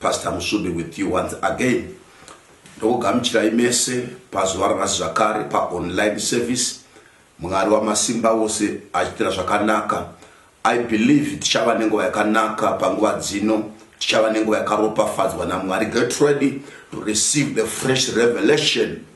Pastor Musumbi with you once again. Ndokugamuchirai mese pazuva ranhasi zvakare pa online service. Mwari wamasimba ose achitira zvakanaka. I believe tichava nenguva yakanaka panguva dzino. Tichava nenguva yakaropafadzwa naMwari. Get ready to receive the fresh revelation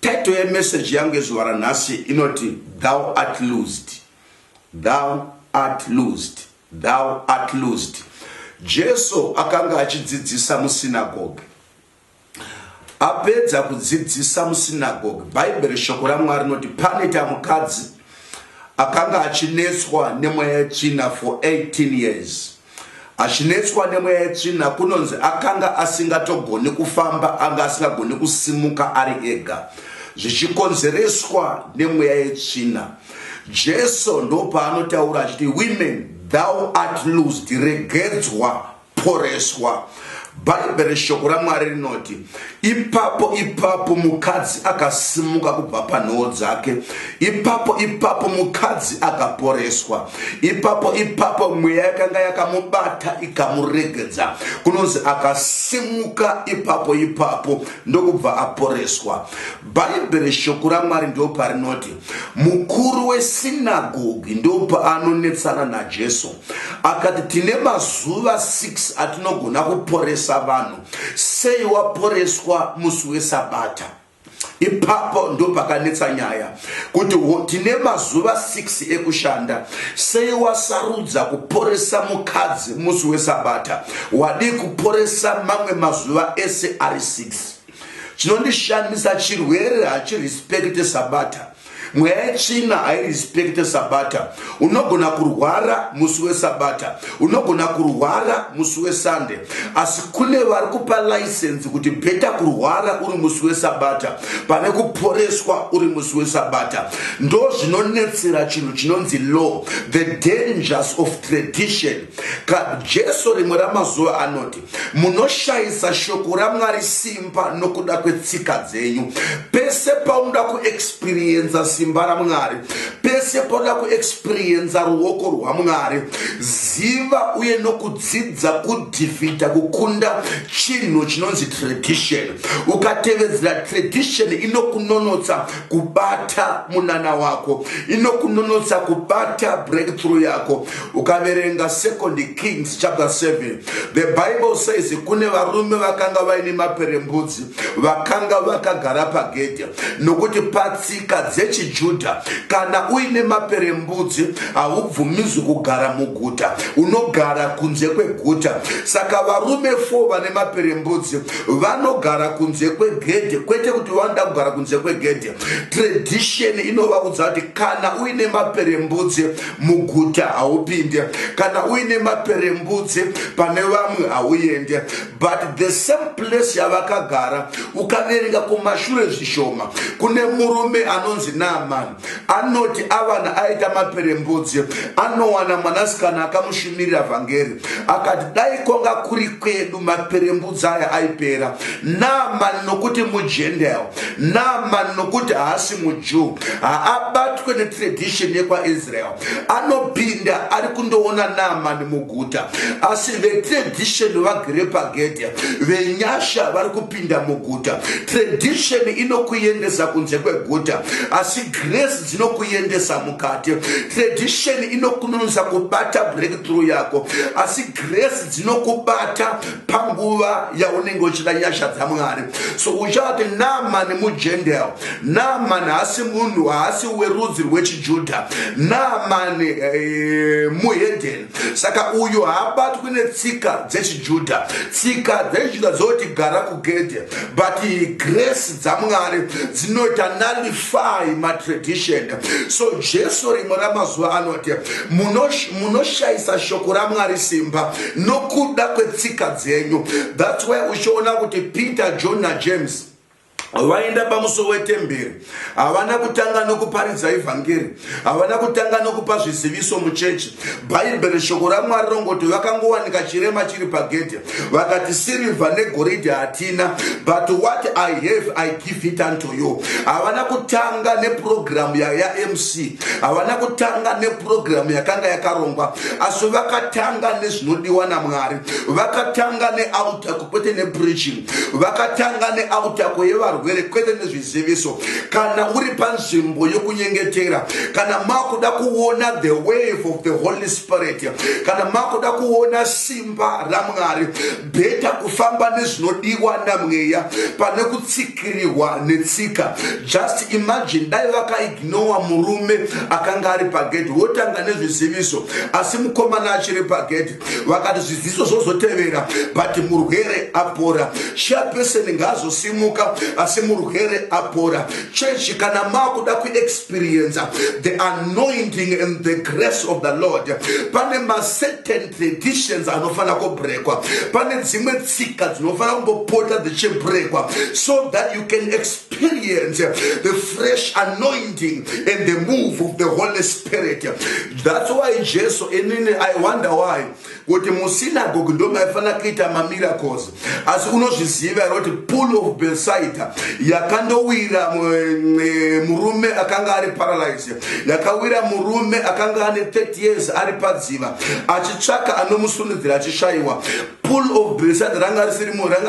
Title yemessage yangu yezuva ranhasi inoti Thou art loosed, thou art loosed, thou art loosed. Jesu akanga achidzidzisa musinagoge. Apedza kudzidzisa musinagoge, Bhaibheri shoko raMwari rinoti panoita mukadzi akanga achinetswa nemweya yetsvina for 18 years. Achinetswa nemweya yetsvina kunonzi akanga asingatogoni kufamba anga asingagoni kusimuka ari ega zvichikonzereswa nemweya yetsvina. Jesu ndopaanotaura achiti women thou art loosed regedzwa poreswa. bhaibheri shoko ramwari rinoti ipapo ipapo mukadzi akasimuka kubva panhoo dzake ipapo ipapo mukadzi akaporeswa ipapo ipapo mweya yakanga yakamubata ikamuregedza kunonzi akasimuka ipapo ipapo ndokubva aporeswa bhaibheri shoko ramwari ndo parinoti mukuru wesinagogi ndo paanonetsana najesu akati tine mazuva 6 atinogona kuporesa vanhu sei waporeswa musi wesabata ipapo ndopakanetsa nyaya kuti tine mazuva 6 ekushanda sei wasarudza kuporesa mukadzi musi wesabata wadii kuporesa mamwe mazuva ese ari 6 chinondishandisa chirwere hachirespekte sabata mweya yetsvina hairespecte sabata unogona kurwara musi wesabata unogona kurwara musi wesande asi kune vari kupa license kuti bheta kurwara uri musi wesabata pane kuporeswa uri musi wesabata ndo zvinonetsera chinhu chinonzi law the dangers of tradition jesu rimwe ramazuva anoti munoshayisa shoko ramwari simba nokuda kwetsika dzenyu pese paunoda kuexperienza simba ramwari pese paunoda kuexperienza ruoko rwamwari ziva uye nokudzidza kudhifita kukunda chinhu chinonzi tradition ukatevedzera tradition inokunonotsa kubata munana wako inokunonotsa kubata breakthrough yako ukaverenga second kings chapter 7 the bible says kune varume vakanga vaine maperembudzi vakanga vakagara pagedhe nokuti patsika dzechijudha kana uine maperembudzi haubvumizi kugara muguta unogara kunze kweguta saka varume fo vane maperembudzi vanogara kunze kwegedhe kwete kuti vanoda kugara kunze kwegedhe tradition inovaudza kuti kana uine maperembudzi muguta haupinde kana uine maperembudzi pane vamwe hauende but the same place yavakagara ukaverenga kumashure zvishoma kune murume anonzi naamani anoti avana aita maperembudzi anowana mwanasikana akamushimirira vhangeri akati dai kwanga kuri kwedu maperembudzi aya aipera naamani nokuti mujendael naamani nokuti haasi mujew haabatwe netradition yekwaisrael anopinda ari kundoona naamani muguta asi vetradition vagere pagedhe venyasha vari kupinda muguta tradition inokuendesa kunze kweguta asi grace dzinokuendesa mukati tradition inokunonisa kubata breakthrough yako asi grace dzinokubata panguva yaunenge uchida nyasha dzamwari so uchati namani mugendel namani haasi munhu haasi werudzi rwechijudha namani eh, muhedheni saka uyu haabatwi netsika dzechijudha tsika dzechijudha dzoti gara kugedhe but grace dzamwari dzinoita nalif defy matradition so jesu rimwe ramazuva anoti munoshayisa shoko ramwari simba nokuda kwetsika dzenyu thats why uchiona kuti peter john najames vaenda pamuso wetemberi havana kutanga nokuparidza evhangeri Havana kutanga nokupa zviziviso muchechi. Bhaibheri, Shoko raMwari, rongoti vakangowanika chirema chiri pagedhe. Vakati, Sirivha negoridhe hatina, but what I have I give it unto you. Havana kutanga nepurogiramu yaMC, havana kutanga nepurogiramu yakanga yakarongwa, asi vakatanga nezvinodiwa naMwari. Vakatanga nealta, kwete nepreaching. vakatanga neautako yevarwere kwete nezviziviso kana uri panzvimbo yokunyengetera kana makuda kuona the wave of the holy spirit kana makuda kuona simba ramwari bheta kufamba nezvinodiwa namweya pane kutsikirirwa netsika just imagine dai vakaignowa murume akanga ari pagedhi wotanga nezviziviso asi mukomana achiri pagedhi vakati zviziso zvozotevera but murwere apora chairperson ngaazosimuka asi murwere apora chechi kana makuda kuexperience the anointing and the grace of the lord pane macertain traditions anofanira kubrekwa pane dzimwe tsika dzinofanira kumbopota dzichibrekwa so that you can experience the fresh anointing and the move of the holy spirit spirit thats why jesu inini i wonder why kuti musinagogi ndo maifanira kuita mamiracles asi unozviziva here kuti pool of besaida yakandowira eh, murume akanga ari paralyze yakawira murume akanga ane 30 years ari padziva achitsvaka anomusundidzira achishaiwa pool of besaida ranga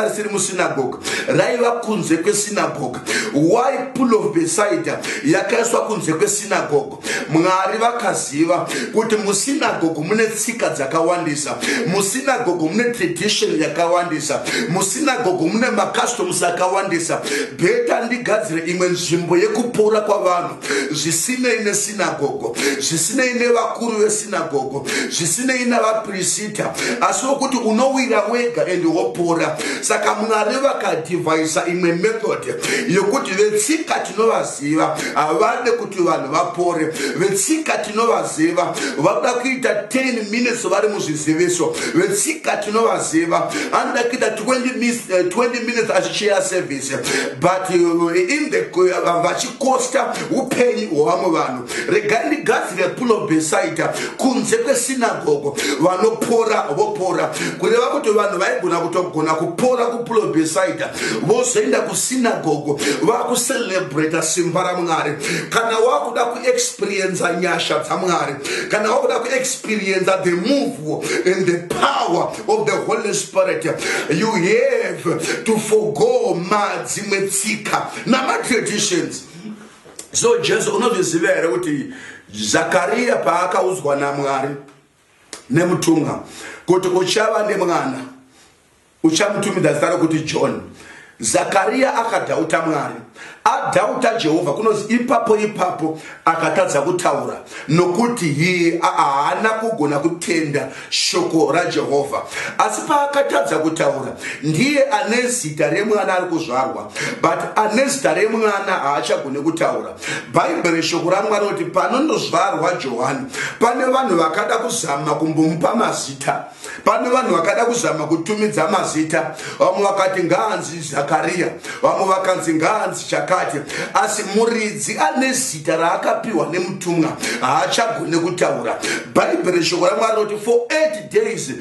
risiri musinagogi raiva kunze kwesinagogi why pool of besaida yakaiswa kunze kwesinagogo mwari vakaziva kuti musinagogo mune tsika dzakawandisa musinagogo mune tradition yakawandisa musinagogo mune macustoms akawandisa beta ndigadzire imwe nzvimbo yekupora kwavanhu zvisinei nesinagogo zvisinei nevakuru vesinagogo zvisinei navapirisita asi wokuti unowira wega and wopora saka mwari vakadhivhaisa imwe method yekuti vetsika tinovaziva havade kuti vanhu vapore vetsika tinovaziva vanoda kuita 10 minutes vari muzviziviso vetsika tinovaziva anoda kuita 20 minutes eh, achichera service but eh, in the eh, vachi kosta upenyu hwevamwe vanhu regai ndigadzire pulo besaita kunze kwesinagogo vanopora vopora kureva kuti vanhu vaigona kutogona kupora kupulo besaita vozoenda kusinagogo vakucelebrata simba ramwari kana wakuda kuexperienza nyasha dzamwari kana wakuda kuexperienza the move and the power of the holy spirit you have to forgo madzimwe tsika namatraditions so jesu unozviziva here kuti zakariya paakaudzwa namwari nemutumwa kuti uchava nemwana uchamutumidza zita rokuti john zakariya akadhauta mwari adhauta jehovha kunozi ipapo ipapo akatadza kutaura nokuti hiye haana kugona kutenda shoko rajehovha asi paakatadza kutaura ndiye ane zita remwana ari kuzvarwa but ane zita remwana haachagone kutaura bhaibheri shoko ramwari kuti panondozvarwa johani pane vanhu vakada kuzama kumbomupa mazita pano vanhu vakada kuzama kutumidza mazita vamwe vakati ngaanzi zakariya vamwe vakanzi ngaanzi chakati asi muridzi ane zita raakapiwa nemutumwa haachagone kutaura bhaibheri shoko ramwari roti for eight days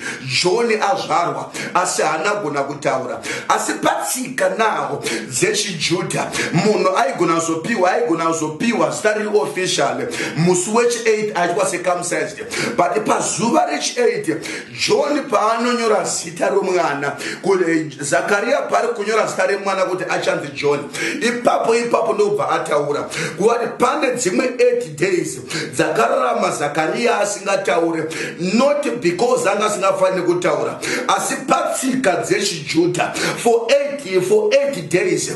johni azvarwa asi haanagona kutaura asi patsika naho dzechijudha munhu aigona kuzopiwa aigona kuzopiwa zita riri official musi wechi 8 aitwa sekamsized but pazuva rechi8 john paanonyora zita romwana zakariya paari kunyora zita remwana kuti achanzi john ipapo ipapo ndokubva ataura kuti pane dzimwe 8 days dzakararama zakariya asingataure not because anga asingafaniri kutaura asi patsika dzechijudha for 8 for 8 days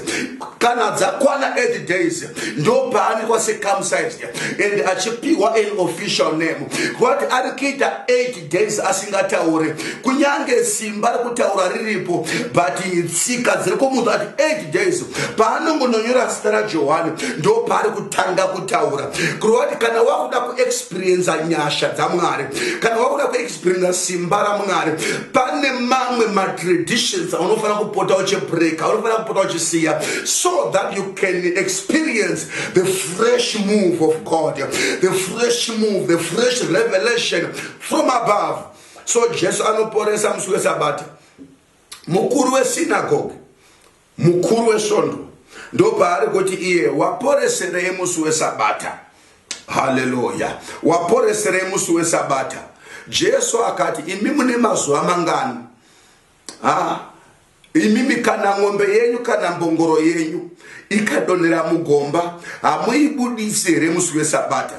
kana dzakwana 8 days ndopaanikwa secumcised and achipihwa an official name kwati ari kuita 8 days asingataure kunyange simba rekutaura riripo but tsika dziri kumunhu ati 8 days paanongononyora zita rajohani ndopaari kutanga kutaura kureva kuti kana wakuda kuexperiensa nyasha dzamwari kana wakuda kupinda simba ramwari pane mamwe matraditions aunofanira kupota uchibreak aunofanira kupota uchisiya so that you can experience the fresh move of god the fresh move the fresh revelation from above so jesu anoporesa musi wesabata mukuru wesinagoge Mukuru wesvondo ndopaari kuti iye waporeserei musi wesabata. Haleluya! Waporeserei musi wesabata. Jesu akati, imi mune mazuva mangani? Ha, imimi kana ng'ombe yenyu kana mbongoro yenyu ikadonhera mugomba hamuibudisi here musi wesabata?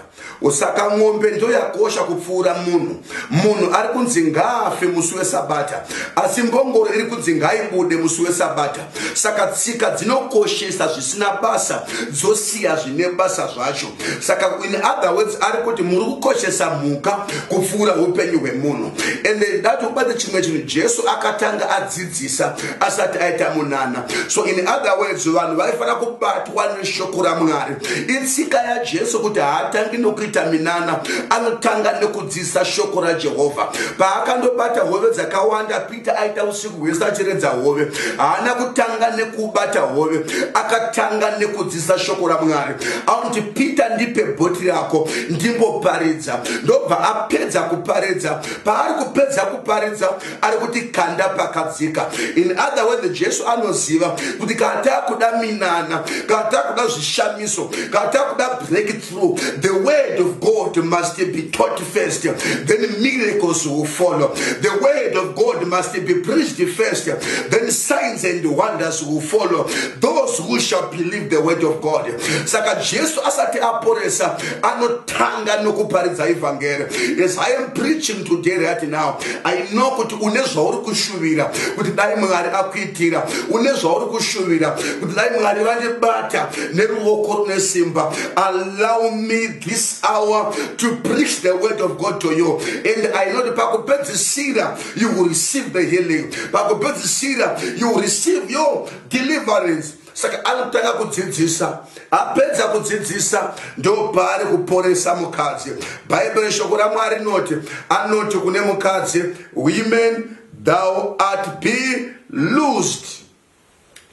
Saka mombe ndoyakosha kupfuura munhu. Munhu ari kunzi ngaafe musi weSabata, asi mbongoro iri kunzi ngaibude musi weSabata. Saka tsika dzinokoshesa zvisina basa dzosiya zvine basa zvacho. Saka in other words ari kuti muri kukoshesa mhuka kupfuura upenyu hwemunhu. Ende ndati ubate chimwe chinhu Jesu akatanga adzidza. dzisa asati aita munana so in other words vanhu vaifanira kubatwa neshoko ramwari itsika yajesu kuti haatangi nokuita minana anotanga nekudzisa shoko rajehovha paakandobata hove dzakawanda peter aita usiku hwese achiredza hove haana kutanga nekubata hove akatanga nekudzisa shoko ramwari auti peter ndipe bhoti rako ndimboparidza ndobva apedza kuparidza paari kupedza kuparidza ari kuti kanda pakadzika in other word jesu anoziva kuti kana takuda minana kana takuda zvishamiso kana takuda breakthrough the word of god must be taught first then miracles will follow the word of god must be preached first then signs and wonders will follow those who shall believe the word of god saka jesu asati aporesa anotanga nokuparidza evhangeri as i am preaching today right now i know kuti une zvauri kushuvira kuti dai mwari akuitira une zvauri kushuvira kuti dai mwari vandibata neruvoko rune simba allow me this hour to preach the word of god to you and i know kuti pakupedzisira you will receive the healing pakupedzisira you will receive your deliverance saka anotanga kudzidzisa apedza kudzidzisa ndopaari kuporesa mukadzi bhaibheri shoko ramwari rinoti anoti kune mukadzi women thou art be loosed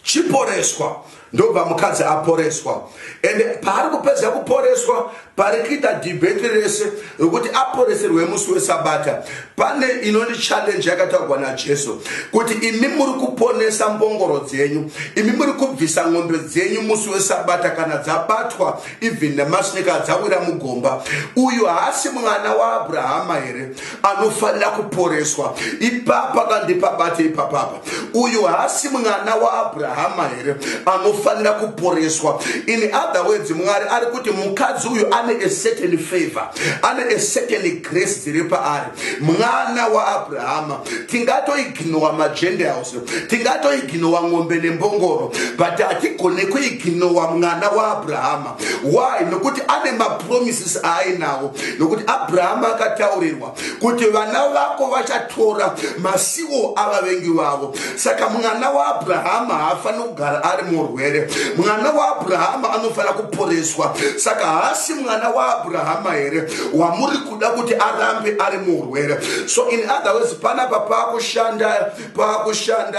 chiporeswa ndobva mukadzi aporeswa ende paari kupedza kuporeswa pari kuita debate rese rokuti aporeserwe musi wesabata pane inoni challenge yakataurwa najesu kuti imi muri kuponesa mbongoro dzenyu imi muri kubvisa n'ombe dzenyu musi wesabata kana dzabatwa even nemasinika dzawira mugomba uyu haasi mwana waabrahama here anofanira kuporeswa ipapa kandipabate ipapapa uyu haasi mwana waabrahama here anofanira kuporeswa in other words mwari ari kuti mukadzi uyu ane a certain favor ane a certain grace dziri paari mwana waabrahama tingatoiginowa magentiles tingatoiginowa ng'ombe nembongoro but hatigone kuiginowa mwana waabrahama why nokuti ane mapromises aainawo nokuti abrahama akataurirwa kuti vana vako vachatora masiwo avavengi vavo saka mwana waabrahama haafaniri kugara ari murwere mwana waabrahama anofanira kuporeswa saka haasi mwana waabrahama here wamuri kuda kuti arambe ari murwere so in other words panapa paakushanda pakushanda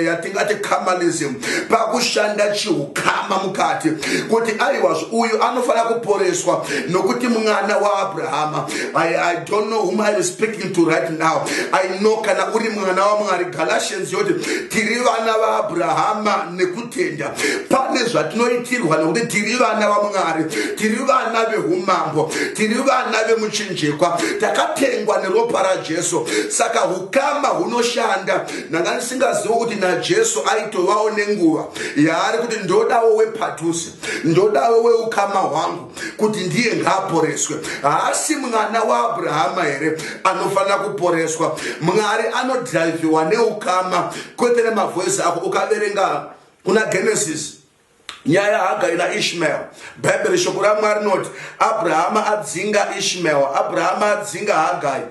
yatingati kamalism pakushanda chiukama mukati kuti aiwazvo uyu anofanira kuporeswa nokuti mwana waabrahama I, i don't know whom iam speaking to right now i know kana uri mwana wamwari galatians yoti tiri vana vaabrahama nekutenda pane zvatinoitirwa nokuti tiri vana vamwari tiri vana veumambo tiri vana vemuchinjikwa takatengwa neropa rajesu saka ukama hunoshanda ndanga ndisingazivi kuti najesu aitovawo nenguva yaari kuti ndodawo wepadhuze ndodawo weukama hwangu kuti ndiye ngaaporeswe haasi mwana waabrahama here anofanira kuporeswa mwari anodhraivhiwa neukama kwete nemavhoisi ako ukaverenga kuna genesis Nyaya yaHagari naIshmael. Bhaibheri shoko raMwari rinoti Abrahama adzinga Ishmael. Abrahama adzinga Hagari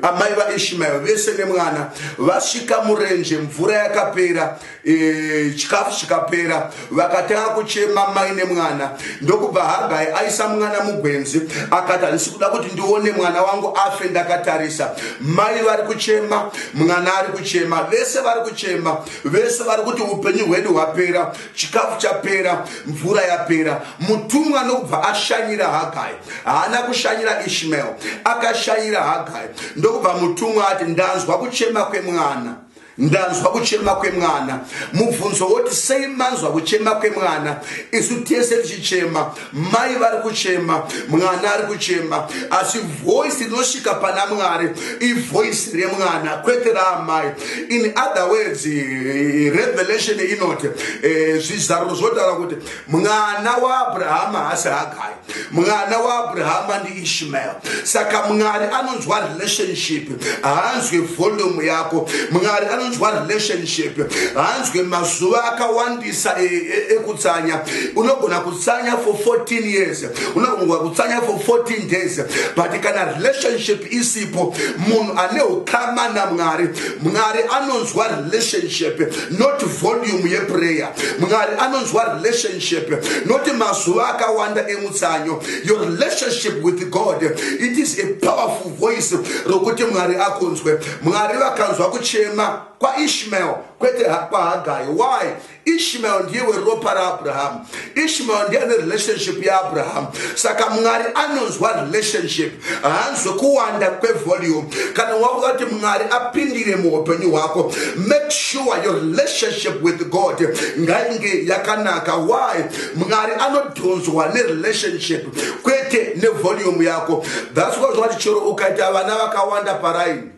amai vaishmael vese nemwana vasvika murenje mvura yakapera e, chikafu e, chikapera vakatanga kuchema mai nemwana ndokubva hagai aisa mwana mugwenzi akati handisi kuda kuti ndione mwana wangu afe ndakatarisa mai vari kuchema mwana ari kuchema vese vari kuchema vese vari kuti upenyu hwedu hwapera chikafu chapera mvura yapera mutumwa anobva ashanyira hagai haana kushanyira ishmael akashanyira hagai ndokubva mutumwa ati ndanzwa kuchema kwemwana ndanzwa kuchema kwemwana mubvunzo woti sei manzwa kuchema kwemwana isu tese tichichema Mai vari kuchema, mwana ari kuchema, asi voice rinosvika pana Mwari ivoice remwana kwete raamai. In other words, eh, revelation inoti eh, zvizaruro zvotaura kuti mwana waAbrahama haasi Hagai, mwana waAbrahama ndi ishmael saka mwari anonzwa relationship haanzwe volume yako mwari anonzwa relationship haanzwe mazuva akawandisa e, e, ekutsanya unogona kutsanya for 14 years unogona kutsanya for 14 days but kana relationship isipo munhu ane ukama namwari mwari anonzwa relationship not volume yeprayer mwari anonzwa relationship not mazuva akawanda emutsanyo your relationship with god it is a powerful voice rokuti mwari akunzwe mwari vakanzwa kuchema kwaishmael kwete kwahagai why ishmael ndiye weropa raabrahamu ishmael ndiye ane relationship yaabrahamu saka mwari anonzwa relationship haanzwe kuwanda kwevolume kana wakuda kuti mwari apindire muupenyu hwako make sure your relationship with god ngainge yakanaka why mwari ano tonzwa nerelationship kwete nevolume yako thats why zvakati chero ukaita vana vakawanda paraini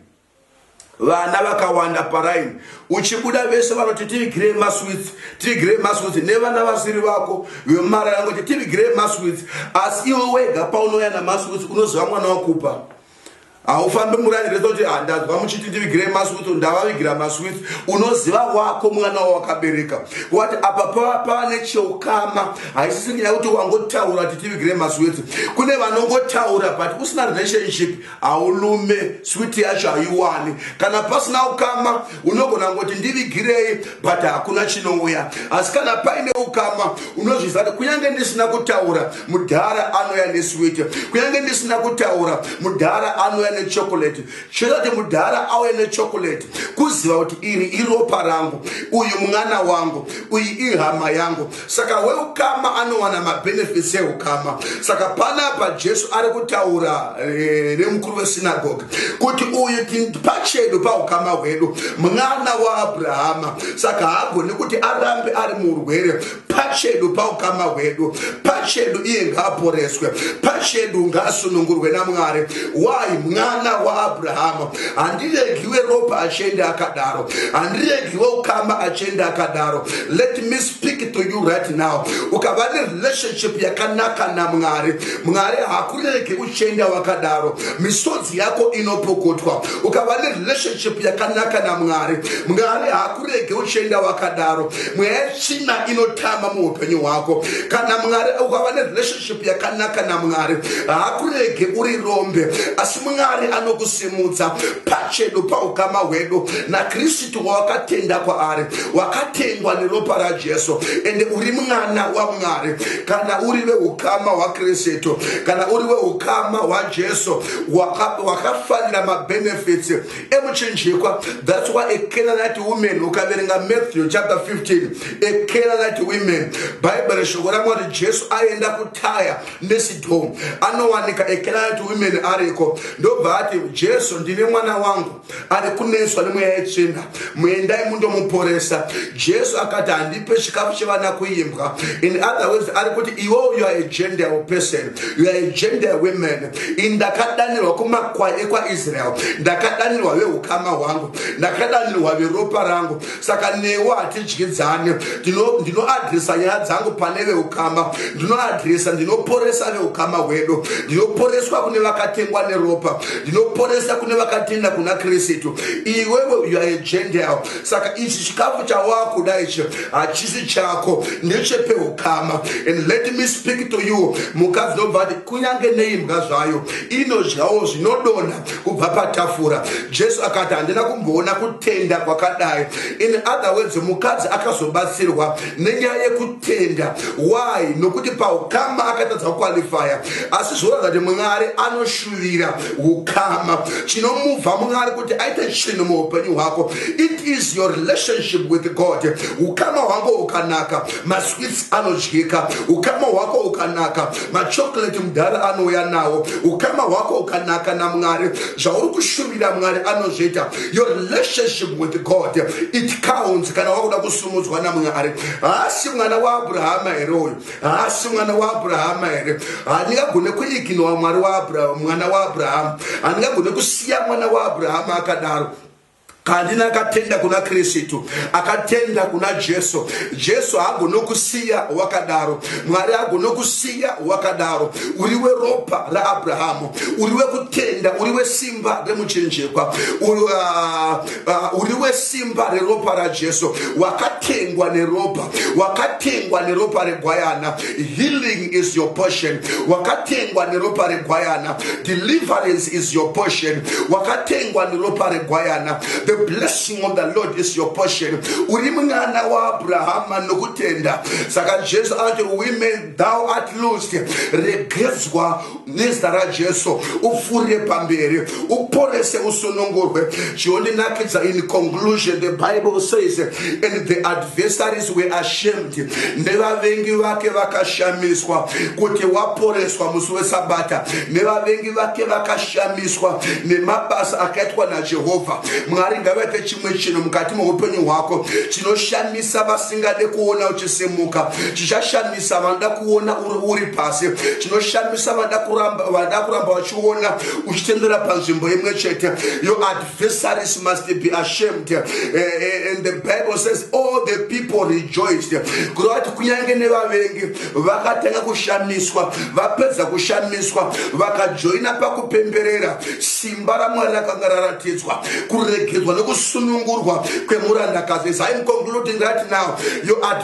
vana vakawanda paraini uchibuda vese vanoti tivigirei maswits tivigirei maswits nevana vasiri vako vemumara yangu kuti tivigirei maswits asi iwe wega paunoya namaswits unoziva mwana wakupa Haufambe murani rese kuti handazwa muchiti ndivigirei maswith ndavavigira maswith unoziva wako mwana wawakabereka wati apa pava pava necheukama haisisi nyaya kuti wangotaura kuti tivigirei maswith kune vanongotaura but usina relationship haulume swith yacho haiwani kana pasina ukama unogona kungoti ndivigirei but hakuna chinouya asi kana paine ukama unozviziva kuti kunyange ndisina kutaura mudhara anouya neswiti kunyange ndisina kutaura mudhara anouya nechokoleti chinoita kuti mudhara auye nechokoleti kuziva kuti iri iropa rangu uyu mwana wangu uyu ihama yangu saka weukama anowana mabenefits eukama saka panapa jesu ari kutaura eh, nemukuru wesinagogi kuti uyu pachedu paukama hwedu mwana waabrahama saka haagoni kuti arambe ari muurwere pachedu paukama hwedu pachedu iye ngaaporeswe pachedu ngaasunungurwe namwari why mwana waabrahama handiregiwe ropa achiende akadaro handiregiwe ukama achiende akadaro let me speak to you right now ukava nerelationship yakanaka namwari mwari hakurege uchienda wakadaro misodzi yako inopokotwa ukava nerelationship yakanaka namwari mwari hakurege uchienda wakadaro mweya yetsvina inotama muupenyu hwako kana mwari ukava nerelationship relationship yakanaka namwari haakurege uri rombe asi mwari anokusimudza pachedu paukama hwedu nakristu wawakatenda kwaari wakatengwa neropa rajesu ende uri mwana wamwari kana uri veukama hwakristu kana uri weukama hwajesu wakafanira mabenefits emuchinjikwa thats why a canaanite women ukaverenga matthew chapter 15 a canaanite women bhaibheri reshoko ramwari jesu aenda kutaya nesidhom anowanika a canaanite women ariko ndobva ati jesu ndine mwana wangu ari kunetswa nemweya yetsvina muendai mundomuporesa jesu akati handipe chikafu chevana kuimbwa in other words ari kuti iwo you are a gentile person you are a gentile women ndakadanirwa kumakwai ekwaisraeri ndakadanirwa veukama hwangu ndakadanirwa veropa rangu saka newo hatidyidzane ndinoadresa nyaya dzangu pane veukama ndinoadresa ndinoporesa veukama hwedu ndinoporeswa kune vakatengwa neropa ndinoporesa kune vakatenda kuna kristu iwewe uaegental Saka ichi chikafu chawakuda ichi hachisi chako ndechepeukama and let me speak to you mukadzi nobva ati kunyange neimbwa zvayo inodyawo zvinodonha kubva patafura jesu akati handina kumboona kutenda kwakadai in other words mukadzi akazobatsirwa nenyaya yekut kutenda why nokuti paukama akatadza kukwalifaya asi zvoratidza kuti mwari anoshuvira ukama chinomuvha mwari kuti aite chinhu muupenyu hwako it is your relationship with god ukama hwako ukanaka maswits anodyika ukama hwako ukanaka machocolate mudhara anouya nawo ukama hwako ukanaka namwari zvauri kushuvira mwari anozviita your relationship with god it counts kana wakuda kusumudzwa namwari haasi mwana waabrahama here uyu haasi mwana waabrahama here handingagone kuiginowa mwari mwana waabrahama handingagone kusiya mwana waabrahama akadaro kandina akatenda kuna kristu akatenda kuna jesu jesu haagonokusiya wakadaro mwari haagonokusiya wakadaro uri weropa raabrahamu uri wekutenda uri wesimba remuchinjikwa uh, Ah, uri wesimba reropa rajesu wakatengwa neropa wakatengwa neropa regwayana healing is your portion wakatengwa neropa regwayana deliverance is your portion wakatengwa neropa regwayana the blessing of the lord is your portion uri mwana waabrahama nokutenda saka jesu anoti women thou art loosed regedzwa nezita rajesu upfuurire pamberi uporese usunungurwe chionenakidza in conclusion the bible says and the adversaries were ashamed nevavengi vake vakashamiswa kuti waporeswa musi wesabata nevavengi vake vakashamiswa nemabasa akaitwa najehovha mwari ngavaite chimwe chinhu mukati meupenyu hwako chinoshamisa vasingade kuona uchisimuka chichashamisa Chinoshamisa vanoda kuona uri pasi. Chinoshamisa vanoda kuramba vanoda kuramba vachiona uchitendera panzvimbo imwe chete. Your adversaries must be ashamed. Eh, eh, and the Bible says all the people rejoiced. Kureva kuti kunyange nevavengi vakatanga kushamiswa, vapedza kushamiswa, vakajoina pakupemberera simba raMwari rakanga raratidzwa, kuregedzwa nekusunungurwa kwemurandakazi. As I'm concluding right now, your adversaries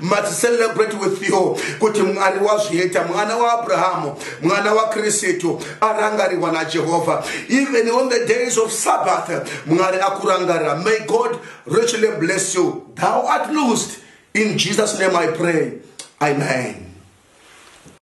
must celebrate with you kuti mwari wazviita mwana waabrahamu mwana wakristu arangarirwa najehovha even on the days of sabbath mwari akurangarira may god richly bless you thou art loosed in jesus name i pray amen